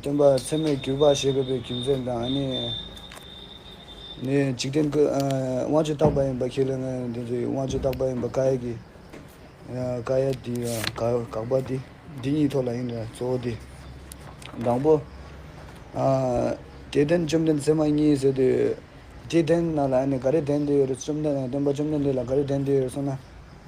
སྟོན་པ་ཚད་མས་བསྒྱུར་པ་ཞེས་པའི་རྒྱུ་མཚན་དང་ནི། འཇིག་རྟེན་ཀུན་དབང་ཆོས་རྟག་པ་ཡིན་པ་ཁས་ལེན་ན་འདི་ཚོ་ཡི་དབང་ཆོས་རྟག་པ་ཡིན་པ་ཀ་ཡཱ་ཀི། ཀ་ཡཱ་ཏི། དགག་པ་སྟེ་འདི་གཉིས་ཐོག་ལ་ཡིན་ལ་གཙོ་བོ་སྟེ། དང་པོ། དེ་བརྟེན་བཅོམ་ལྡན་ཚད་མ་གཉིས་ཟེར་དུས། དེ་བརྟེན་ན་ལ་ནི་ག་རེ་བདེན་འདི་ཡོད་རེད་བཅོམ་ལྡན་སྟོན་པ་བཅོམ་ལྡན་འདས་ལ་ག་རེ་བདེན་འདི་ཡོད་རེད་གསུངས་ན།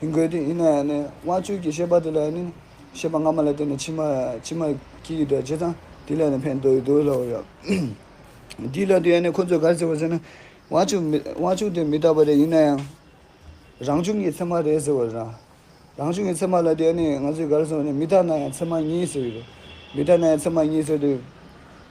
ཡིན་དགོས་ཏེ་ཡིན་ན་ཡང་ནི་དབང་ཕྱུག་གི་ཤེས་པ་དེ་ལ་ཡང་ནི་ཤེས་པ་སྔ་མ་ལ་བརྟེན་ནས་ཕྱི་མ་ཕྱི་མ་སྐྱེ་ཡི་དགྲ་ཇི་ཙམ་དེ་ལས་ནི་ཕན་འདོགས་ཡི་འདུག་ལའོ། འདིའི་ལན་དུ་ཡང་ནི་ཁོ་ཚོས་གར་ཟེར་བ་ཟེར་ན་དབང་ཕྱུག་མི་དབང་ཕྱུག་དེ་མི་རྟག་པ་རེད་ཡིན་ན་ཡང་རང་བྱུང་གི་ཚད་མ་རེད་ཟེར་བ་རེད། རང་བྱུང་གི་ཚད་མ་ལ་དེ་ཡང་ནི་ང་ཚོས་གར་སོང་ནས་མི་རྟག་ན་ཡང་ཚད་མ་ཉིད་ཟེར་གྱི་རེད། མི་རྟག་ན་ཡང་ཚད་མ་ཉིད་ཟེར་དུས།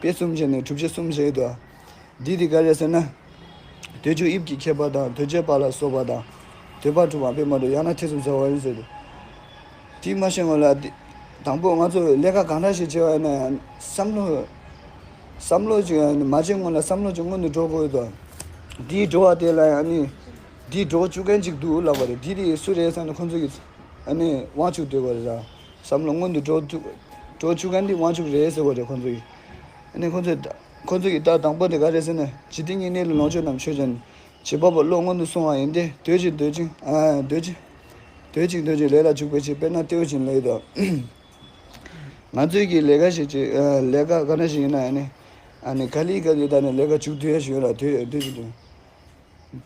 དཔེ་གསུམ་བྱས་ནས་གྲུབ་ཆ་གསུམ་བཞེད་དོ། འདི་དེ་ག་རེད་ཟེར་ན། དུས་ཆུ་དབྱིབས་ཀྱི་ཁྱད་པར་དང་དུས་བྱེད་པ་ལ་སོགས་པ་དང། དུས་བབ་གྲུབ་བམ་དཔེ་མ་གྲུབ་ཡང་ན་ཐེ་ཚོམ་ཟ་བ་ཡིན་ཟེར། དེས་མ་ཤེས་ངོ་ལ། དང་པོ་ང་ཚོས་ལས་ཀ་གང་འདྲ་ཞིག་བྱེད་པ་ན་ཡང་བསམ་བློ། བསམ་བློ་ཅིག་མ་བྱས་སྔོན་ལ་བསམ་བློ་ཅིག་སྔོན་དུ་འགྲོ་དགོས་དོ། དེའི་འགྲོ་བ་དེ་ལ་ཡང་ནི། འདིས་འགྲོ་བཅུག་མཁན་ཅིག་འདུག་ལབ་པ་རེད་དེ་དེ་སུ་རེད་བསམ་ན་ཁོ་ཚོ་ཡིས། དབང་ཕྱུག་འདོད་པ་རེད། བསམ་བློ་སྔོན་དུ་འགྲོ་འགྲོ་ཆུ་ཁ་འདི་དབང་ཕྱུག་རེད་ཟེར་བ་རེད་ཁོང་ཚོ་ཡིས། ཨནི་ཁོང་ཚོས་ཁོང་ཚོ་ཡིས་ལྟ་དང་པོ་དེ་ག་རེད་ཟེར་ན་ཇི་སྟེ་སྙིང་ནད་ལ་ལོངས་སྤྱོད་རྣམས་ཆོས་ཅན། བྱེད་པ་པོ་བློ་སྔོན་དུ་སོང་བ་ཡིན་ཏེ་སྡོད་ཅིག་སྡོད་ཅིག་སྡོད་ཅིག། སྡོད་ཅིག་སྡོད་ཅིག་ལས་ལ་འཇུག་པའི་ཕྱིར་དཔེར་ན་ལྟེའུ་བྱིན་ལེ་དང། ང་ཚོས་ཀྱིས་ལས་ཀ་ཞིག་བྱེད་ལས་ཀ་ག་འདྲ་ཞིག་ཡིན་ན་ཨནི། ཨནི་ག་ལི་ག་ལི་ད་ནི་ལས་ཀ་བྱུག་དུས་ཡ་ཞིག་ཡོད་ལ་དུས་དུས་ཀྱི་དུས།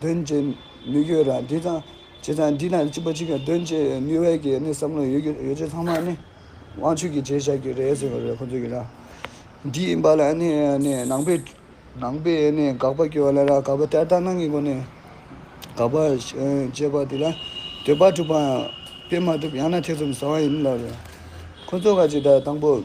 དོན་བྱེད་ནུས་རྒྱུ་རང་འདི་དང་ཇི་དང་འདི་དང་གཅིག་པ་གཅིག་གི་དོན་བྱེད་ནུས་བའི་གི་ནི་བསམ་བློ་ཡོད་རྒྱུ་ཡོད་ཚད་ཚང་མ་ནི་དབང་ཕྱུག་གི་བྱས་བཞག་གི་རེད་ཟེར་བ་རེད་ཁོ་ཚོ་ཡིན་ན། འདི་ཡིན་པ་ལ་ནི་ནི་ནང་པའི་ནང་པའི་ནི་དགག་པ་སྐྱོན་ལ་ར་དགག་པ་ཏལ་ཏག་གནང་གི་སྒོ་ནས་དགག་པ་བྱས་པ་དེ་ལ་འདོད་པ་འགྲུབ་པའང་དཔེ་མ་ཐུབ་ཡང་ན་ཐེ་ཚོམ་ཟ་བ་ཡིན་ལ་རེད། ཁོ་ཚོ་ག་ཅིག་ད་དང་པོ།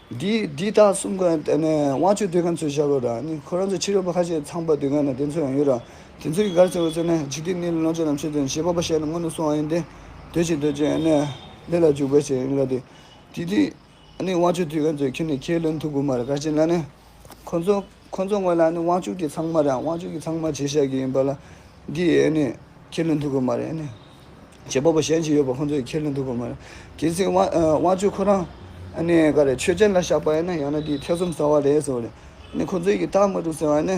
འདི་དག་གསུམ་ཀ་དེ་ནས་དབང་ཆོས་སྡོད་མཁན་ཚོས་བཞག་དགོས་ར་ནི་ཁོ་རང་ཚོ་ཕྱི་རོལ་པོ་ཁ་ཤས་ཚངས་པར་སྡོད་མཁན་ནི་དེ་ཚོ་ཡང་ཡོད་ར་དེ་ཚོ་ཡི་གར་ཚེ་བོ་ཚོ་ནི་འཇིག་རྟེན་གནས་ལུགས་ལོངས་སྤྱོད་རྣམས་ཆོས་ཚན་ཞེས་པ་པོ་ཤེས་ནས་སྔོན་དུ་སོང་བ་ཡིན་ཏེ། སྡོད་ཅིག་སྡོད་ཅིག་ནི་ལས་ལ་འཇུག་པའི་ཕྱིར་ཡིན་ར་དེ་དུས་དེ་ནི་དབང་ཆོས་སྡོད་མཁན་ཚོས་ཁྱེད་ནི་ཁྱེད་ལོན་ཐུབ་དགོས་མ་རེད་ག་ཅེ་ན་ནི། ཁོ་ཚོ་ཁོ་ཚོ་སྔོན་ལ་ནི་དབང་ཕྱུག་གི་ཚང་མ་རང་དབང་ཕྱུག་གི་ཚང་མ་བྱེད་བཞག་གི་ཡིན་པ་ལ་འདི་ཡས་ནི་ཁས་ལེན་ཐུབ་ཀི་མ་རེད་ནི། བྱེད་པ་པོ་གཞན་ཞིག་ཡོད་པ་ཁོ་ཚོ་ཡི་ཁས་ལེན་ཐུབ་ཀི་མ་རེད། གལ་སྲིད་དབང་དབང་ཕྱུག་ཁོ་རང་ནི་ག་རེ་ཆོས་ཅན་ལ་བཞག་པ་ཡིན་ན་ཡང་ན་འདི་ཐེ་ཚོམ་ཟ་བ་རེད་ཟེར་བ་རེད། ནི་ཁོ་ཚོ་ཡི་གི་རྟགས་མ་གྲུབ་ཟེར་བ་ནི།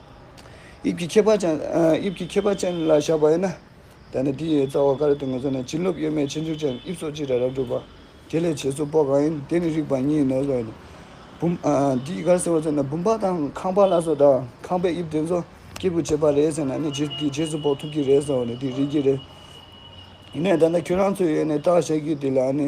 དབྱིབས་ཀྱི་ཁྱད་པར་ཅན། དབྱིབས་ཀྱི་ཁྱད་པར་ཅན་ལ་བཞག་པ་ཡིན་ན། ད་ནི་དེའི་རྩ་བ་ག་རེ་སྟེ་ངོ་སོ་ནི་བྱིན་རླབས་གཡོ་མེད་ཆེ་མཆོག་ཅན་དབྱིབས་སོགས་གཅིག་ར་རབ་གྲུབ་པ། དེ་ལས་བྱེད་སོགས་པོ་གང་ཡིན་དེ་ནི་རིགས་པ་ཉིད་ཡིན་ནོ་ཞེས་སོགས་བུམ། འདིས་ག་རེ་ཟེར་བ་ཚོ་ན་བུམ་པ་དང་ཁང་པ་ལ་སོགས་དང་ཁང་པའི་དབྱིབས་དེ་ཚོ་སྐྱེས་བུ་བྱེད་པ་རེད་ཟེར་ན་ནི་རྗེས་དེ་རྗེས་སུ་དཔོག་ཐུབ་ཀྱི་རེད་ཟེར་བ་ནི་དེ་རིགས་ཀྱི་རེད། ཡིན་ནའི་ད་ལྟ་ཁྱོད་རང་ཚོས་ཡོད་ནས་བརྟག་བྱ་རྒྱུ་དེ་ལ་ནི།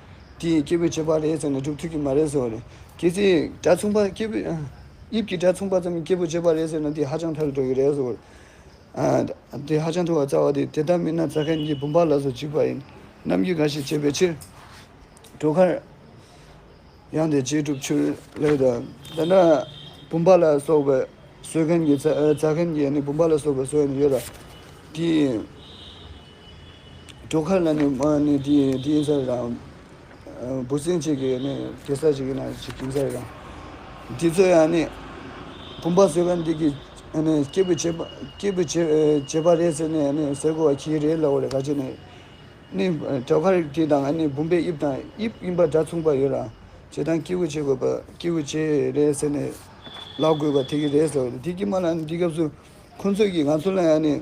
དེ་ཡི་སྐྱེས་བུ་བྱེད་པ་རེད་ཟེར་ནས་སྒྲུབ་ཐུབ་ཀྱི་མ་རེད་ཟེར་བ་རེད། དེ་ཚེ་སྒྲ་མཚུངས་པ་སྐྱེས་བུ། དབྱིབས་ཀྱི་སྒྲ་མཚུངས་པ་ཙམ་གྱི་སྐྱེས་བུ་བྱེད་པ་རེད་ཟེར་ན་དེ་ཧ་ཅང་ཕལ་དུ་འགྲོ་གི་རེད་ཟེར་བ། དེ་ཧ་ཅང་ཐུ་བ་རྩ་བ་དེ་དེ་ལྟར་མིན་ན་རྩ་མཁན་གྱི་བུམ་པ་ལ་སོགས་འཇིགས་པ་ཡིན། རྣམ་འགྱུར་འགའ་ཞིག་བྱེད་པའི་ཕྱིར། གྲོག་མཁར། ཡང་དེ་རྗེས་གྲུབ་ཆུ་ལེགས་དང། ད་ལྟ། བུམ་པ་ལ་སོགས་པའི་སོས་མཁན་གྱི་རྩ་མཁན་གྱི་ནི་བུམ་པ་ལ་སོགས་པའི་སོས་ནི་ཡོད་ལ། དེའི། གྲོ་ཁ་ན་ནི་མ་ནི་དེ་ཡིན་ས་རེད་དང། འབུ་སྲིན་ཅིག་གིས་ནི་དེ་ས་ཅིག་ཡིན་ན་ཅིག་ཡིན་ས་རེད་དང། དེ་ཚོ་ཡང་ནི་བུམ་པ་བཟོས་པ་འདི་གི་སྐྱེས་བུ་བྱེད་པ་སྐྱེས་བུ་བྱེད་པ་རེད་ཟེར་ནས་ནི་ཟེར་དགོས་པ་གྱི་རེད་ལབ་བ་རེད་ག་ཅེ་ནི། ནི་བྲག་ཁར་དེ་དང་ནི་བུམ་པའི་དབྱིབས་དང་དབྱིབས་གཡིམ་པ་འདྲ་མཚུངས་པ་ཡོད་རང་བྱེད་དང་སྐྱེས་བུ་བྱེད་དགོས་པ་སྐྱེས་བུ་བྱེད་རེད་ཟེར་ནས་ལབ་དགོས་པ་དེ་གི་རེད་ཟེར་བ་རེད་དེ་གི་མ་ལ་ནི་འདི་སྐབས་སུ་ཁོང་ཚོས་ཀྱི་ང་ཚོ་ལ་ཡང་ནི།